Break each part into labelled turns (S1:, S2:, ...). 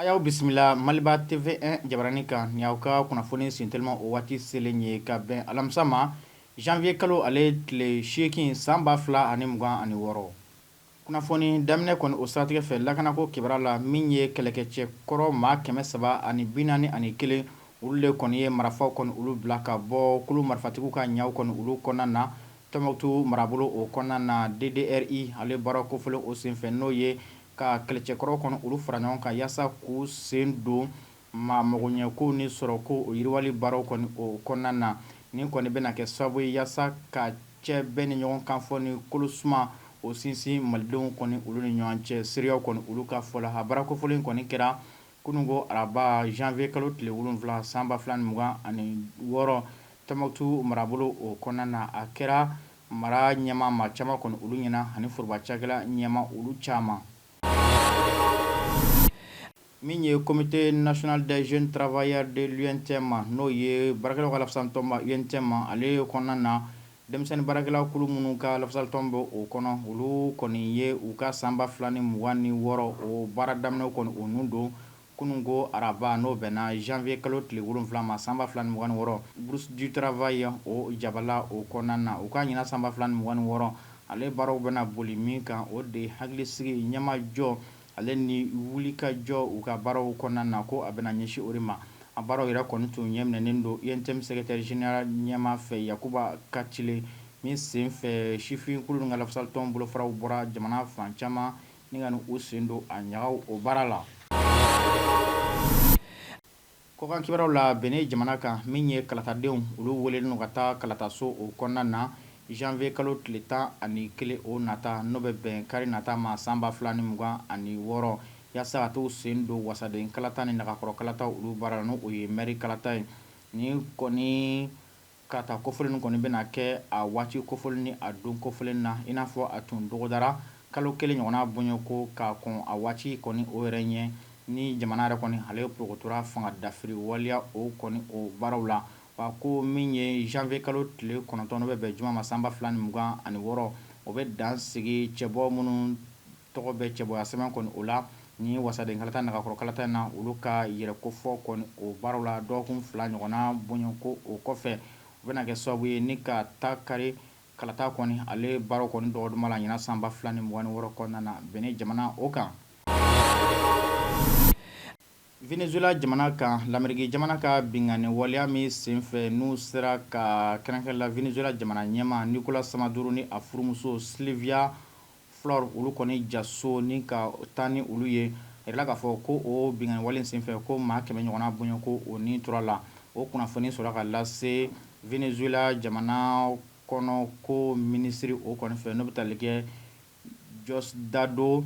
S1: A y'aw bisimila Maliba TV1 jabaranin kan ni aw ka kunnafoni sintelima o waati selen ye ka bɛn alamisa ma janvier kalo ale tile seegin san ba fila ani mugan ani wɔɔrɔ Kunnafoni daminɛ kɔni o siratigɛ fɛ lakanako kibaruya la min ye kɛlɛkɛcɛ kɔrɔ maa kɛmɛ saba ani bi naani ani kelen olu de kɔni ye marafaw kɔni olu bila ka bɔ kulu marifatigiw ka ɲaw kɔni olu kɔnɔna na Tɔnbukutu marabolo o kɔnɔna na DDRI ale baara kofɔlen o senfɛ n'o ye ka kɛlɛcɛkɔrɔw kɔni olu fara ɲɔgɔn kan yaasa k'u sen don Maa magoɲɛkow ni sɔrɔko o yiriwali baaraw kɔni o kɔnɔna na, nin kɔni bɛna kɛ sababu ye yaasa ka cɛ bɛn ni ɲɔgɔn kanfɔ ni kolosuma o sinsin malidenw kɔni olu ni ɲɔgɔn cɛ, seereyaw kɔni olu ka fɔ la. A baara kofɔlen in kɔni kɛra kununko araba janvier kalo tile wolonwula san ba fila ni mugan ani wɔɔrɔ Tɔnbukutu marabolo o kɔnɔna na. A kɛra mara ɲɛmaa maa caman kɔni olu ɲɛna ani foroba cakɛla ɲɛmaa olu caman. Min ye cote natina daz tarawelebaya de cɛ ma n'o ye barakɛsatɔma cɛ ma ale kɔnɔna na denmisɛnnin baarakɛlakulu minnu ka latɔn bɔ o kɔnɔ olu kɔni ye u ka sanba 2 ni 2ugan ni wɔɔrɔ o baara daminɛ kɔnɔ u ninnu don Kununko araba, n'o bɛnna janvier kalo tile wolonwula ma san ba fila ni mugan ni wɔɔrɔ, Bourse du travail o jabala o kɔnɔna na. U ka ɲinan san ba fila ni mugan ni wɔɔrɔ, ale baaraw bɛna boli min kan, o de hakilisigi ɲɛmajɔ ale ni wulikajɔ u ka baaraw kɔnɔna na, ko a bɛna ɲɛsin o de ma. A baaraw yɛrɛ kɔni tun ɲɛminɛnen don UNTM secrétaire général ɲɛmaa fɛ, Yakuba Kacile, min senfɛ sifinkulu in ka lafasalitɔn bolofaraw bɔra jamana fan caman, Ni ka u sen don a ɲagaw o baara la kɔkan kibaruyaw la Benɛn jamana kan min ye kalatadenw olu welelen don ka taa kalataso o kɔnɔna na janvier kalo tile tan ani kelen o nata n'o bɛ bɛn kari nata ma san ba fila ni mugan ani wɔɔrɔ yaasa ka t'u sen don wasaden kalata ni nagakɔrɔ kalata olu baara la n'o ye mɛri kalata ye ni kɔni Kalata kofɔlen kɔni bɛna kɛ a waati kofɔlen ni a don kofɔlen na i n'a fɔ a tun dɔgɔdara kalo kelen ɲɔgɔnna bonya ko ka kɔn a waati kɔni o yɛrɛ ɲɛ ni jamana yɛrɛ kɔni ale porokotora fanga dafiri waliya o kɔni o baaraw la wa ko min ye janvier kalo tile kɔnɔntɔn n'o bɛ bɛn juma ma san ba fila ni mugan ani wɔɔrɔ o bɛ dan sigi cɛbɔ minnu tɔgɔ bɛ cɛbɔya sɛbɛn kɔni o la ni wasaden kalata nagakɔrɔ kalata in na olu ka yɛrɛkofɔ kɔni o baaraw la dɔgɔkun fila ɲɔgɔnna bonya ko o kɔfɛ u bɛna kɛ sababu ye ni ka taa kari kalata kɔni ale baaraw kɔni dɔgɔduma la ɲinan san ba fila ni mugan ni wɔɔrɔ kɔnɔna na Benɛn jamana o kan Venezuela jamana kan lameriki jamana ka binkanni waleya min senfɛ n'u sera ka kɛrɛnkɛrɛn la Venezuela jamana ɲɛmaa Nicolas Maduro ni a furumuso Silvia Flor olu kɔni ja so ni ka taa ni olu ye. A yirala k'a fɔ ko o binkanni wale senfɛ ko maa kɛmɛ ɲɔgɔnna bonya ko o ni tora a la. O kunnafoni sɔrɔla ka lase Venezuela jamana kɔnɔko minisiri o kɔni fɛ n'o bɛ tali kɛ Diosdado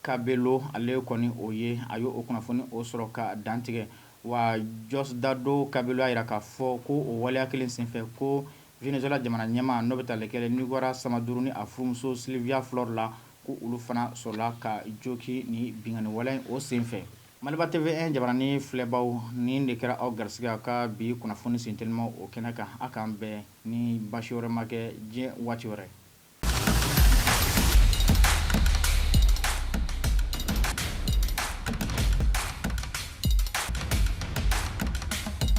S1: Cabello ale kɔni o ye a ye o kunnafoni o sɔrɔ ka dantigɛ. Wa Diosdado Cabello y'a yira k'a fɔ ko o waleya kelen senfɛ ko Venezuela jamana ɲɛmaa n'o bɛ tali kɛ Nicolas Maduro ni a furumuso Silvia Flor la, ko olu fana sɔrɔla ka jogin ni binkanni waleya o senfɛ. Maliba TV1 jabaranin filɛbaaw, nin de kɛra aw garisigɛ a ka bi kunnafoni sen telimaw o kɛnɛ kan. A k'an bɛn ni baasi wɛrɛ ma kɛ diɲɛ waati wɛrɛ.